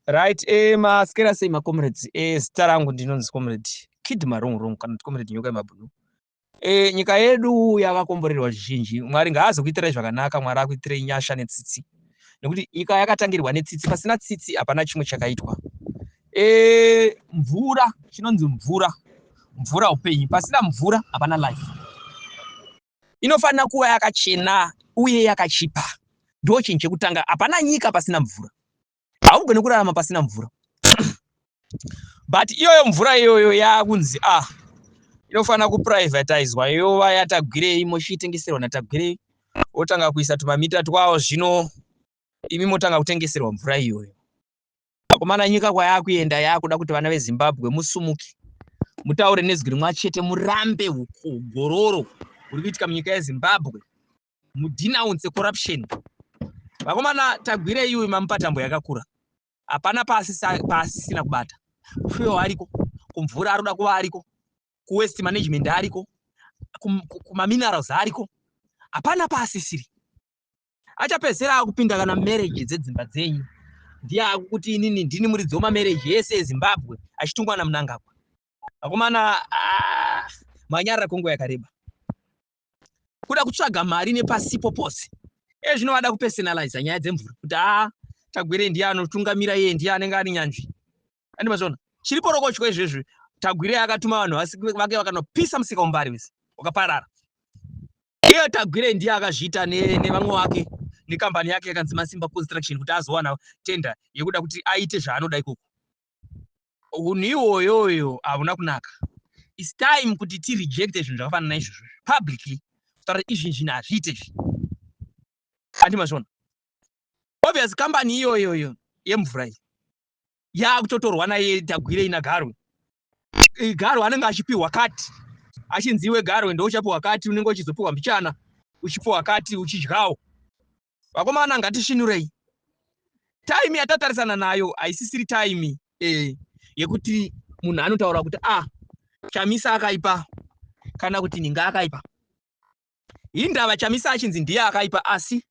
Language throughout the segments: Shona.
Right, eh, maskera sei macomrades eh, zita rangu ndinonzi comrade kid marong rong kana kuti comrade nyoka yemabhunu eh, nyika yedu yakakomborerwa zvizhinji mwari ngaazokuitirai zvakanaka mwari akuitirei nyasha netsitsi nekuti nyika yakatangirwa netsitsi pasina tsitsi hapana chimwe chakaitwa eh, mvura chinonzi mvura mvura upenyu pasina mvura hapana life inofanira kuva yakachena uye yakachipa. Ndiwo chinhu chekutanga. Hapana nyika pasina mvura. Haugone kurarama pasina mvura. But iyoyo mvura iyoyo yakunzi ah inofanira kuprivatizwa yova yatagwirei mochiitengeserwa natagwirei wotanga kuisa tumamita twawo zvino imi motanga kutengeserwa mvura iyoyo Akomana nyika kwayakuenda yakuda kuti vana veZimbabwe musumuke mutaure nezwi rimwe chete murambe gororo uri kuitika munyika yeZimbabwe mudenounce corruption vakomana tagwirei uyu mamupatambo yakakura hapana paasisina kubata kufuyo ariko kumvura aroda kuva ariko kuwest management ariko kumaminerals ariko hapana paasisiri achapedzisira akupinda kana marriage dzedzimba dzenyu ndiye akukuti inini ndini muridzi wemamarriage ese ezimbabwe achitungwa namunangagwa akomana ah, manyarira kwenguva yakareba kuda kutsvaga mari nepasipo pose e zvino vada kupersonaliza nyaya dzemvura kuti a ah, tagwire ndiye anotungamira iye ndiye anenge ari nyanzvi Andi mazoona. Chiri porokotyo izvezvi Tagwire akatuma vanhu vake vakanopisa musika umbari wese wakaparara. Iye Tagwire ndiye akazviita nevamwe wake nekambani yake yakanzi Masimba Construction kuti azowana tender yekuda kuti aite zvaanoda ikoko. Unhu iwoyoyo hauna kunaka. It's time kuti ti reject zvinhu zvakafanana naizvozvo publicly kutaura izvi zvinhu hazviite izvi. Andi mazvona. Obvious kambani iyoyoyo yemvura iyi yaakutotorwa naye tagwirei nagarwe eh, garwe anenge achipiwa kati achinzi iwe garwe ndouchapiwa kati unenge uchizopiwa mbichana uchipiwa kati uchidyawo vakomana ngatishinurei taimi yatatarisana nayo haisisiri taimi eh, yekuti munhu anotaura kuti a ah, chamisa akaipa kana kuti ninga akaipa hindava chamisa achinzi ndiye akaipa asi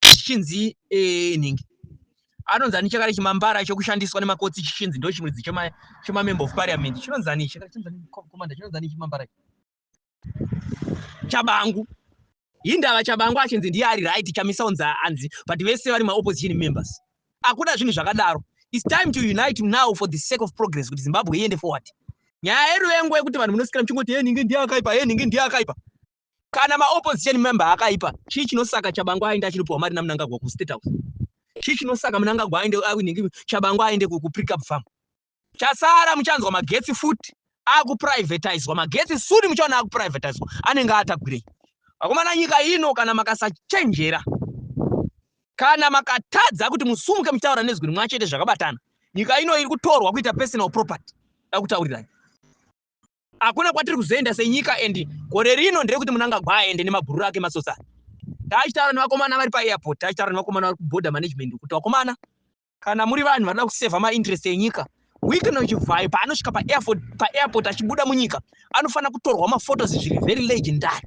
chichinzi eh, nhingi anonzi ani chakare chimambara chekushandiswa nemakotsi chichinzi ndo chimwe chemamember of parliament chinonzi ani chakaaomanda chinonzi ani chimambara chabangu hindava chabangu achinzi ndiye ari right chamisa unzi anzi but vese vari maopposition members akuda zvinhu zvakadaro its time to unite now for the sake of progress kuti zimbabwe iende forward nyaya yeruvengo yekuti vanhu munosikira muchingoti ye nhingi ndiye akaipa ye nhingi ndiye akaipa Kana ma opposition member akaipa, chii chinosaka Chabangu aende achinopiwa mari naMnangagwa ku State House? Chii chinosaka Mnangagwa aende awinhingi Chabangu aende ku Precab Farm? Chasara muchanzwa magetsi futi akuprivatizwa magetsi suni muchaona akuprivatizwa anenge atagwirei vakomana nyika ino kana makasachenjera kana makatadza kuti musumuke muchitaura nezwi rimwe chete zvakabatana nyika ino iri kutorwa kuita personal property dakutaurirai Hakuna kwatiri kuzoenda senyika and gore rino ndere kuti munangagwa aende nemabhururu ake masosa. Taachitaura nevakomana vari paairport, taachitaura nevakomana vari kuborder management kuti vakomana kana muri vanhu vanoda kuseva mainterest enyika weekend uchivhayo paanosvika paairport paairport achibuda munyika anofanira kutorwa maphotos zviri very legendary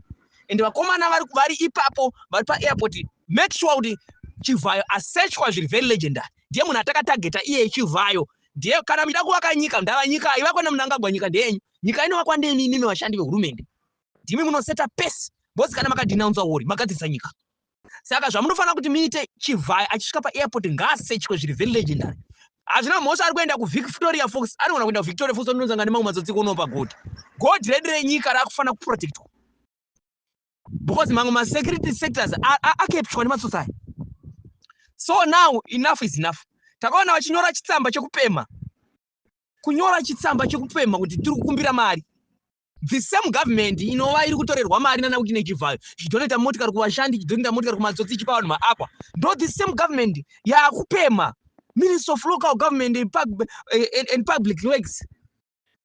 and vakomana vari vari ipapo vari paairport make sure kuti chivhayo asechwa zviri very legendary ndiye munhu atakatageta iye chivhayo Ndiye kana muchida kuvaka nyika ndava nyika ivakwa naMnangagwa nyika ndeyenyu. Nyika inovakwa neni imi vashandi vehurumende. Ndimi munoseta pese boss kana makadenouncer war magadzirisa nyika. Saka zvamunofanira kuti muite Chivhayo achisvika paairport ngaasechwe zviri very legendary. Hazvina mhosva ari kuenda kuVictoria Falls anogona kuenda kuVictoria Falls ononzanga nemamwe matsotsi kunopa gold. Gold redu renyika rakufanira kuprotectwa. because mamwe masecurity sectors akepshwa nematsotsi aya so now enough is enough takaona vachinyora chitsamba chekupemha kunyora chitsamba chekupemha kuti tiri kukumbira mari the same government inova iri kutorerwa mari nana kuti nechivhayo chidonoita motikari kuvashandi chidonoita motikari kumatsotsi ichipa vanhu maakwa ndo the same government yaakupemha minister of local government and, pub, eh, and, and public works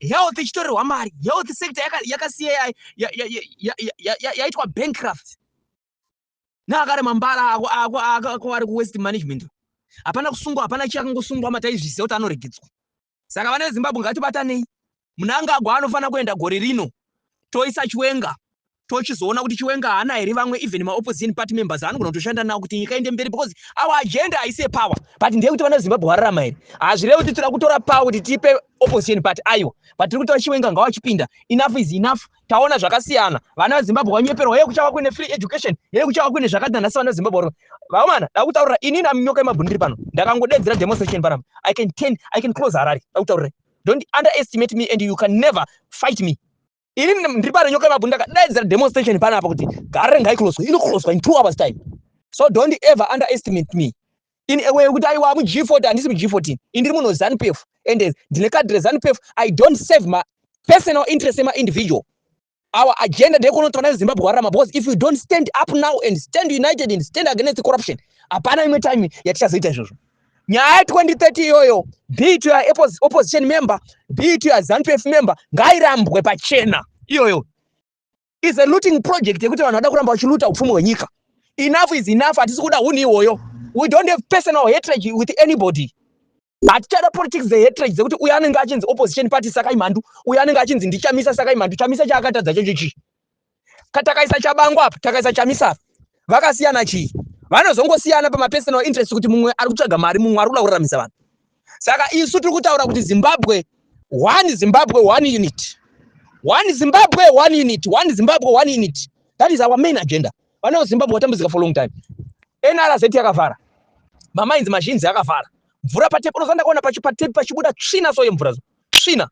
health ichitorerwa mari health sector yakasiya yaitwa bankcraft naakare mambara ako ako ako ari kuwest management hapana kusungwa hapana chi akangosungwa mataizvisiya kuti anoregedzwa saka vana vezimbabwe ngatibatanei munangagwa anofanira kuenda gore rino toisa chiwenga tochizoona kuti chiwenga haana here vamwe even maopposition party members anogona kutoshanda nawo kuti nyika inde mberi because our agenda haisi yepower but ndeyekuti vana vezimbabwe wararama here hazvirevi kuti tira kutora power kuti tipe opposition party aiwa but tiri kutora chiwenga ngawachipinda enough is enough taona zvakasiyana vana vezimbabwe vanyeperwa heye kuchava kuine free education heye kuchava kuine zvakadina nhasi vana vezimbabwe ro vaomana dakutaurira inini aminyoka yemabhuni ndiri pano ndakangodedzera demonstration panapa i can ten i can close harari dakutaurirai Don't underestimate me and you can never fight me. Ini ndiri parenyoka ipapo ndakadaidzira demonstration panapa kuti gare ngaikloswe inokloswa in two hours time. So don't ever underestimate me. In a way kuti aiwa muG40 handisi muG14. Indiri muno ZANPF and ndine card reZANPF I don't save my personal interest ema individual. Our agenda ndekunoti vana vezimbabwe wararama because if we don't stand up now and stand united and stand against corruption hapana imwe time yatichazoita izvozvo nyaya 2030 iyoyo be to your opposition member be to your zanpf member ngairambwe pachena iyoyo is a looting project yekuti vanhu vada kuramba vachiluta upfumi hwenyika enough is enough hatisi kuda hunhu ihoyo we don't have personal hatred with anybody hatichada politics the hatred dzekuti uyo anenge achinzi opposition party sakai mhandu uyo anenge achinzi ndichamisa sakai mhandu chamisa chaakatadza chocho chii katakaisa chabango apa takaisa chamisa apa vakasiyana chii vanozongosiyana pamapersonal interest kuti mumwe ari kutsvaga mari mumwe ari kuda kuraramisa vanhu saka isu tiri kutaura kuti zimbabwe one zimbabwe one unit one zimbabwe one unit one zimbabwe one unit that is our main agenda Vana veZimbabwe vatambudzika for long time. NRZ yakavhara. Mamainzi mazhinzi akavhara. Mvura patepi unozanda kuona pachi patepi pachibuda tsvina so yemvura tsvina.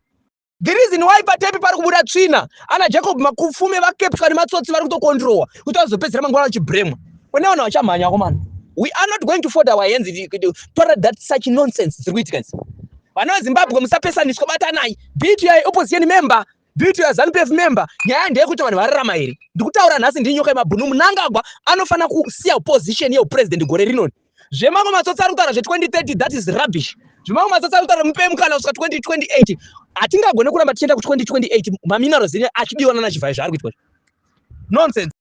The reason why patepi pari kubuda tsvina ana Jacob makufume vakepswa nematsotsi vari kutokondirowa kuti vazopedzera manguva vachibremwa. Kune vanhu vachamhanya akomana. We are not going to fold our hands to tolerate that such nonsense dziri kuitika idzi. Vana veZimbabwe musapesaniswa batanai. Be it your opposition member Beauty ya Zanupf member nyaya ndeyekuti vanhu vararama here ndikutaura nhasi ndiri nyoka yemabhunu munangagwa anofanira kusiya position yeupresident gore rinoni zvemamwe matsotsi ari kutaura zve2030 that is rubbish zvimamwe matsotsi ari kutaura mupe mukana kusvika 2028 hatingagone kuramba tichienda ku2028 maminerals ine achidiwa nana chivhayo zvaari kuitwa nonsense